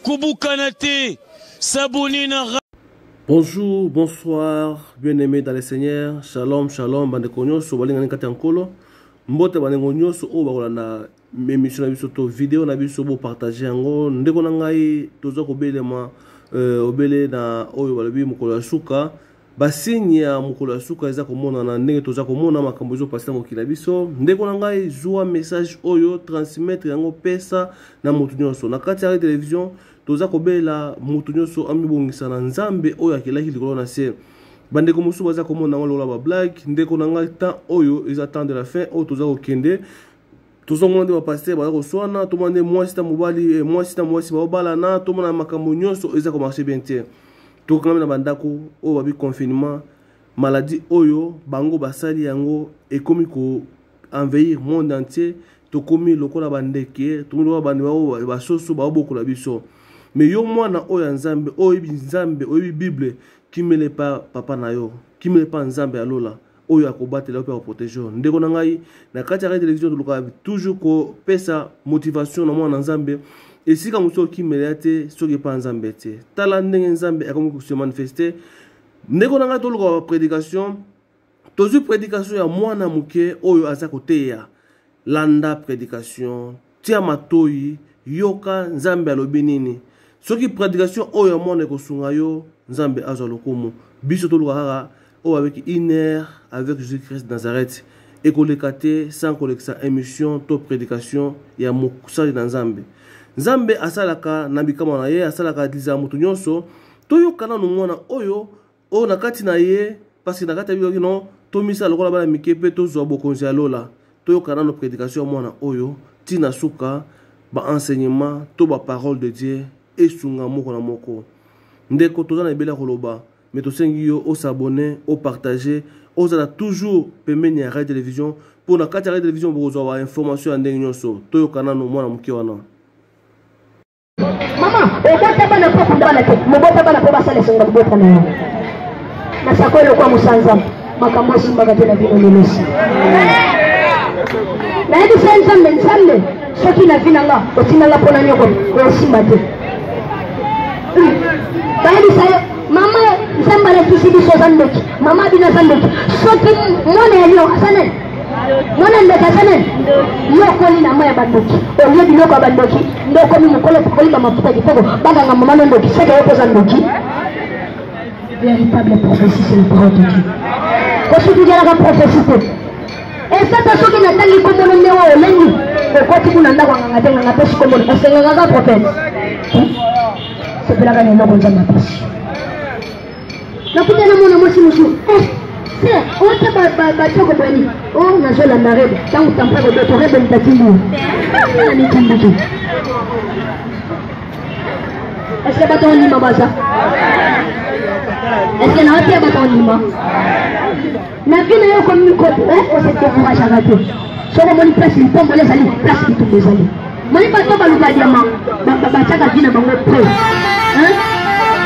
kobukana te sabone na Bonjour, bonsoir, bien-aimés dans le Seigneur. Shalom, shalom, bande konyoso, balingani kati ya nkolo. Mbote bande konyoso oyo bakolanda mais mission na biso to video na biso bo partager yango ndeko na ngai toza kobelema euh, obele na oyo balobi mokolo ya suka basigne ya mokolo ya suka eza komonana ndenge toza komona makambo ezopasi na mokili na biso ndeko na ngai zwa message oyo transmettre yango pesa na moto nyonso na kati ya television toza kobelela moto nyonso amibongisa na nzambe oyo akelaki likolo na se bandeko mosusu baza komona yango lokola bablage ndeko na ngai temps oyo eza temps de la fin oyo toza kokende tozomona nde bapastere baza koswana tomona nde mwasi na mobali eh, mwasi na mwasi baobalana tomona makambo nyonso eza komarche bien te tokangami na bandako oyo babi confinement maladi oyo bango basali yango ekomi ko envahir monde entier tokomi lokola bandeke tokomi lokola bande bao basoso baobokola biso me yo mwana oyo ya nzambe oyebi nzambe oyebi bible kimele pa papa na yo kimele pa nzambe ya lola oyo akobatela yo mpe akoprotege yo ndeko na ngai na kati ya radio television tolukaka toujours kopesa motivation na mwana na nzambe esika mosusu okimela ya te soki epa nzambe te tala ndenge nzambe akomi kose manifeste ndeko na ngai tolukaka baprédication tozwi prédication ya mwana moke oyo aza koteya landa predication tia matoyi yoka nzambe alobi nini soki predication oyo ya mwana ekosunga yo nzambe azwa lokumu biso toluka kaka oyo avec une heure avec jésus christ nazareth ekoleka te sans kolekisa émission to prédication ya mosali na nzambe nzambe asalaka na bikamwa na ye asalaka liza moto nyonso toyoka nano mwana oyo oyo na kati na ye parceke na kati ya biyoki no tomisala lokola bana mike mpe tozwa bokonzi ya lola toyoka nano prédication ya mwana oyo ti na suka baenseignement to baparole de dieu esunga moko na moko ndeko toza na ebele ya koloba me tosengi yo osabone opartage ozala toujours pembeni ya radio television mpo na kati ya radio television bokozwa bainformation ya ndenge nyonso toyoka nano mwana moke wana mama obota bana mpo okunda bana te mobota bana mpo basala esonga libota na yo nasako elokwa mosanza makambo esimbaka te na bino lelosi nayebisa ye nzambe nzambe soki na vi na nga otinda nga mpo na nyoko osimba te bayebisa ye mama nzambe alakisi biso oza ndoki mama bino aza ndoki soki mwana ya lio aza nani mwana ndoki aza nani yo okoli na mai ya bandoki olie biloko ya bandoki nde okomi mokolo okolimba mafuta kitoko baganga mama no ndoki seke yo mpoza ndoki véritable prophétie c'est le parole de Dieu kosutukelaka prophétie te esata soki natangi kombono nde wa olengi okoti kuna ndako anganga te nganga pesi kombono osengangaka prophète sepelaka na eloko nzambe apesi nakuta na mwana mwasi mosusu eh, se ota batioko boni o oh, nazolanda rebe ntango tampa kodoto rebe mitatindio na mitindiki eske bato ondima baza eske naotia bato ondima na vie na yo okomi osedekouragaka te soki omoni place lipamboli ezali place bitumba ezali moni bato baluka diama batiaka vi na bango pre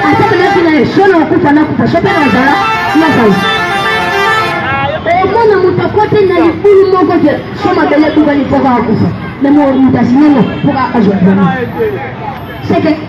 asepela vi na ye so na okufa nakufa so mpe nazala nazala omona moto akote na libulu moko te so mabele ebukani mpo kaka kufa na moto asinango mpo kaka azwa diama seke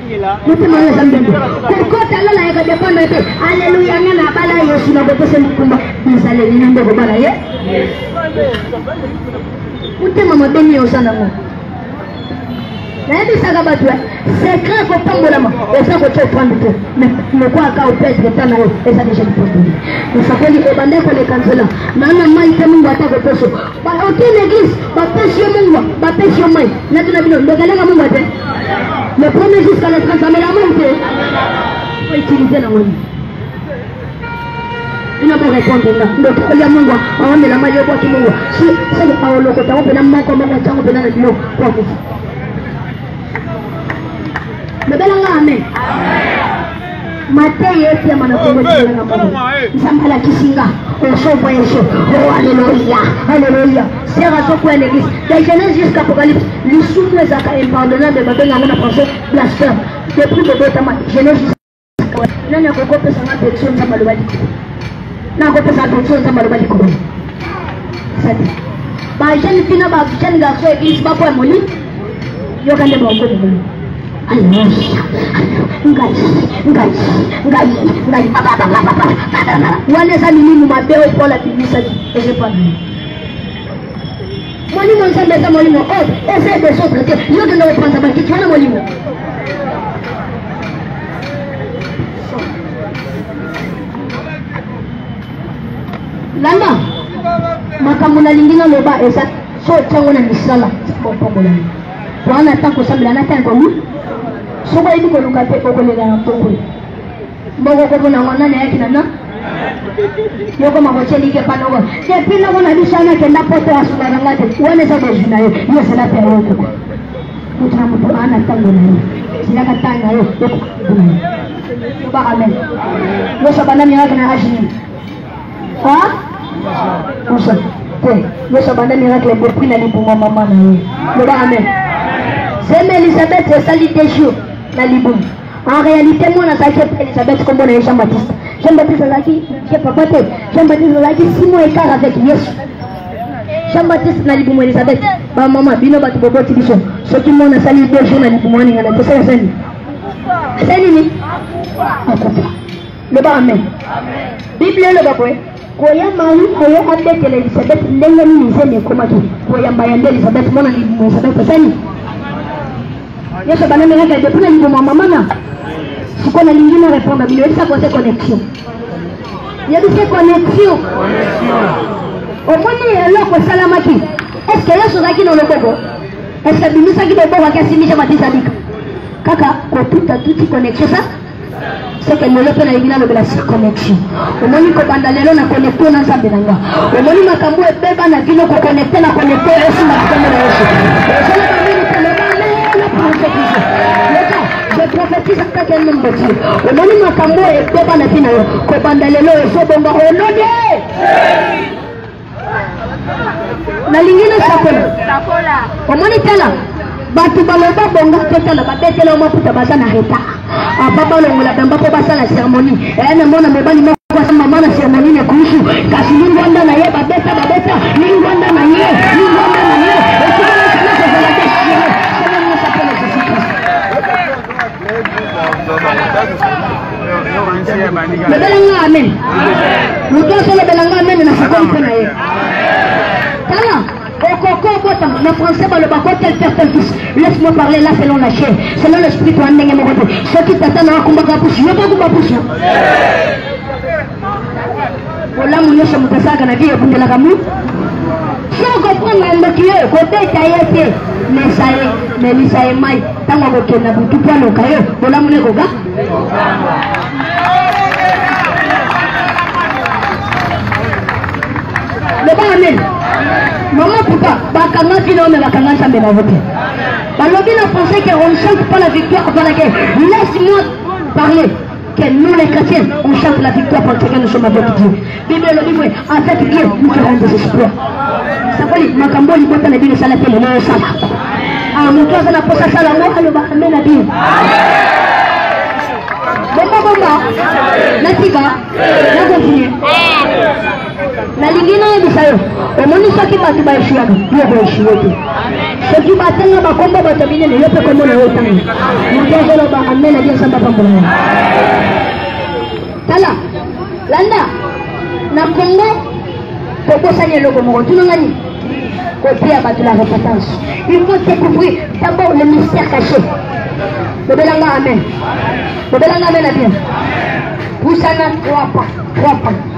motema oyo eza ndembo kokota lola ya kodependre te aleluya nga na bala yesu na bopesa likumba bizaleli na nde kobala ye motema mabe nini oza nango nayebisaka bato ya secret kopambolama oza kotya ofrande te lokwaka opetre ta na yo eza deja lipamboli osakoli ebanda koleka nzela nana mai te mingi ata koposo Ba aucune église ba pêche yo mungwa, ba pêche yo mai. Na tuna bino ndokeleka mungwa te. Le premier jour ça ne transforme la main te. Faut utiliser la main. ina mo répondre nga ndoki olia mungwa awamela mai obwaki mungwa si soko aolokota ngo mpena moko moko ntango mpena na bino kwa kufa mebelanga amen mateya epema na kongo na mono nzambe alakisi nga osovoyage o aleluya aleluya sera azokwea na eglise de genèse jusqu'à apocalypse lisumu ezalaka impardonnable babenga yango na français blasphème depuis bobotama genèse jusqu'à nani akokopesa nga betio nzambe aloba likolo nakopesa betio nzambe aloba likolo sadi bajeune fille na bajeune garçon eglise bakoya molimo yoka nde bongo bongo wana eza milimu mabe oyo mpo labimisaki ezepana molimo nzambe eza molimo oyo eza ebesotre te yo kende kopanza bakiti wana molimo landa makambo nalingi naloba eza soki otia yango na misala nzambe opambola yo wana na ntango kosambela na ntango ekomi soki oyebi koluka te okolela na mpokwe mboko okomona yango nani ayaki na na yoko makocelike panoko epi noko na biso wana akenda poto asunga na nga te wana eza bozwi na ye yo ezala mpe ayo koko moto na moto aa na ntango na ye zilaka ntango na yo ekokuna ye yobaka mene yoso bandami yaka na agine Hein? Usa. Te. Yesu abanda miracle depuis na libuma mama na ye. Loba amen. Zeme Elisabeth esali deux jours na libuma. En réalité mwana azalaki epai Elisabeth kombo na ye Jean Baptiste. Jean Baptiste azalaki ye papa te. Jean Baptiste azalaki six mois écart avec Yesu. Jean Baptiste na libuma Elisabeth. Ba mama bino bato boboti biso. Soki mwana asali deux jours na libuma ningana tosala sani. Asali nini? Akufa. loba amen biblia eloba boye koya mari oyo abetela elizabeth ndenge nini nzembe ekomaki koyamba ya nde elizabeth mwana libumu elizabeth otani yesu abanandelaka ede mpona libumu ya mamana sikoyo nalingi na répondre bino yebisa kote connexion yebisa connexion omoni eloko esalamaki estce yesu ozalaki na loboko estce abimisaki loboko ake asimisa matisa bika kaka kotuta tuti connexion sa soki lelo mpe nayebi nalobela circonnexion omoni kobanda lelo na konekte na nzambe na nga omoni makambo ebeba na bino kokonekte na konekte esimba nkombo na yesu ezala bamini koloba lelo profetise leta je prophetise avec un homme de dieu omoni makambo ebeba na bino kobanda lelo ezobonga olode nalingi nasakola sakola omoni tala bato baloba bongo totala babetela maputa baza na reta aba balongola bamba mpo basala seremoni ee namona mobali moko aza mama na seremoni na kusu kasi lingwanda na ye babeta babeta lingwanda na ye lingwanda na ye lobelanga amen moto oso lobelanga amen na sikoli mpe na ye tala okoko kota na français baloba ko tel père tel fils laisse moi parler là selon la chair selon l'esprit toa ndenge moko te soki tata na yo akumbaka pusu yo bokumba pusu bolamu nyonso moto asalaka na vie ebundelaka mu so okoprendre ndoki yo kobeta ye te mesa ye melisa ye mai ntango akokenda butu mpo aloka yo bolamu na ekoga loba amen mama pupa bakangaki nao me bakanga nzambe na yo te balobi na français que on chante pas la victoire par laquelle laisse moi parler Que nous les chrétiens, on chante la victoire parce que nous sommes avec Dieu. Bible elobi boye, avec Dieu, nous ferons des exploits. Sakoli, makambo oyo libota na bino esala te lelo osala. Ah, moto aza na posa asala yango aloba amen na bino. Bomba bomba, natika, nakofinye. nalingi nayebisa yo omoni soki bato baeshuaka yo koeshue te soki batanga bakombo bato ya minene yo mpe kombo na yo otanga moto azoloba amen adi nsamba pambola yo tala landa na kongo kobosani eloko moko tunanga nini koteya bato la repentance il faut découvrir d'abord le mystère caché bobelanga amen bobelanga amen na bien pusana trois pas trois pas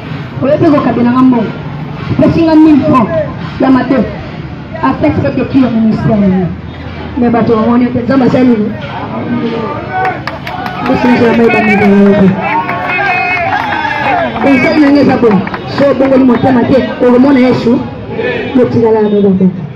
oye mpe kokabela nga mbongo pesi nga 1000 franc ya mabe afet mpe teki ya ministère nini me bato bamoni mpe nzambe asali nini esinzelamayebamileobe esali na nge eza boye so obongoli motema te okomona yesu motikala ya mobambaka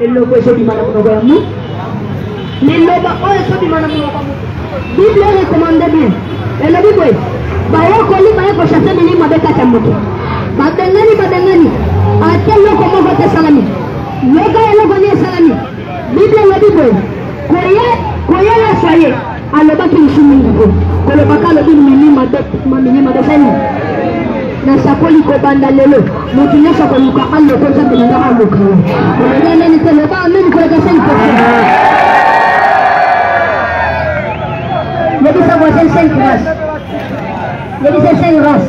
eloko ezobima na monoko ya moto liloba oyo ezobima na monoko ya moto bible recommande bien elobi boye bayekoli baye koshase bilimo mabe kati ya moto babengani babengani ate eloko moko te esalami yoka eloko nini esalami bible elobi boye koye koye ya soye alobaki lisu mingi te kolobaka alobi milima milima dozali nasakoli kobanda lelo moto nyonso akoluka aloko nzambe na ngai aluka yo olobia nani te loba amini koleka seli pesa yebisa voisin saint grace yebisa saint grace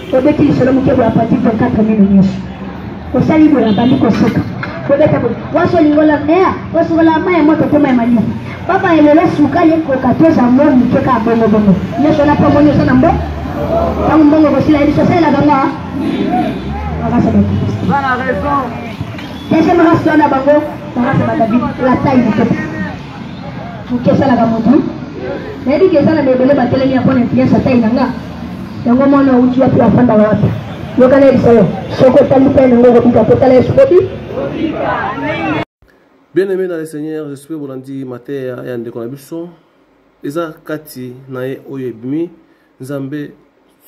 obeti lisolo moke boya pati 24 mino nyonso osali boye abandi kosuka kobeta boye wasi olingola mea osukola mai ya moto toma ya malili papa elelo sukali ekoka toza mbo moke kaka bongobongo nyonso wana mpo omoni oza na mbo ntango mbongo kosila ye biso osalelaka nga deuxième race wana bango barase badabi la taille du peuple moke esalaka motu nayebi ke eza na baebele batelemi ya mpona influence atai na nga yango mwana auti wapi afanda wapi yoka nayebisa yo soki otali mpe nango okobika mpo tala yesu bobi bien aimé dans le seigneur je suis bolandi mateya ya ndeko na biso eza kati na ye oyo ebimi nzambe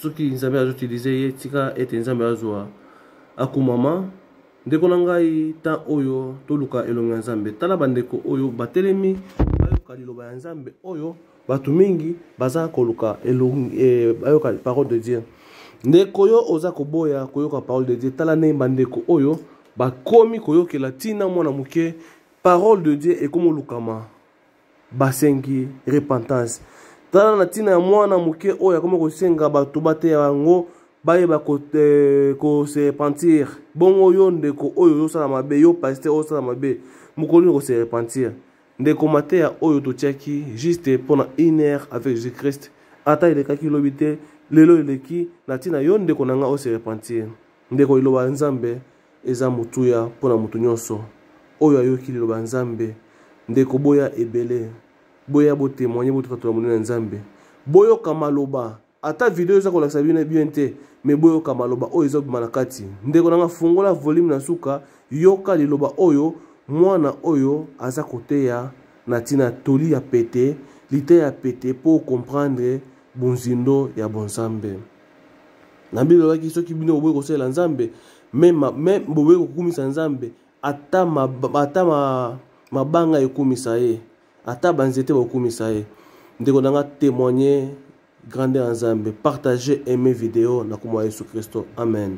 soki nzambe azoutilize ye tika ete nzambe azwa akumama ndeko na ngai temps oyo toluka elongo ya nzambe tala bandeko oyo batelemi bayoka liloba ya nzambe oyo bato mingi baza koluka elongi eh, bayoka parole de dieu ndeko yo oza koboya koyoka parole de dieu tala ndenge bandeko oyo bakomi koyokela ntina mwana moke parole de dieu ekomi olukama basengi repentance tala na ntina ya mwana moke oyo akomi kosenga bato bateya yango bayeba kose eh, repentir bongo yo ndeko oyo ozosala mabe yo paster ozosala mabe mokolo nini kose repentir ndeko mateya oyo totiaki juste mpo na une heure avec jésus christ ata elekaki lobi te lelo eleki na ntina yo ndeko na ngai ose repentir ndeko liloba ya nzambe Eza motuya mpo na moto nyonso oyo ayoki liloba ya Nzambe. Ndeko, boya ebele. Boya bo temoigner, bo tatola monene ya Nzambe. Boyoka maloba. Ata video eza kolakisa bino bien te, mais boyoka maloba oyo ezobima na kati. Ndeko na nga, fungola volume na suka, yoka liloba oyo mwana oyo aza koteya na tina toli ya pete, liteya ya pete mpo o comprendre bonzindo ya bonzambe. na bino lobaki soki bino boboyi kosalela nzambe meme boboyi kokumisa nzambe ata mabanga ekumisa ye ata banzete bakumisa ye ndeko na nga témoigne grandeur ya nzambe partage aime video na komwa yesu kristo amen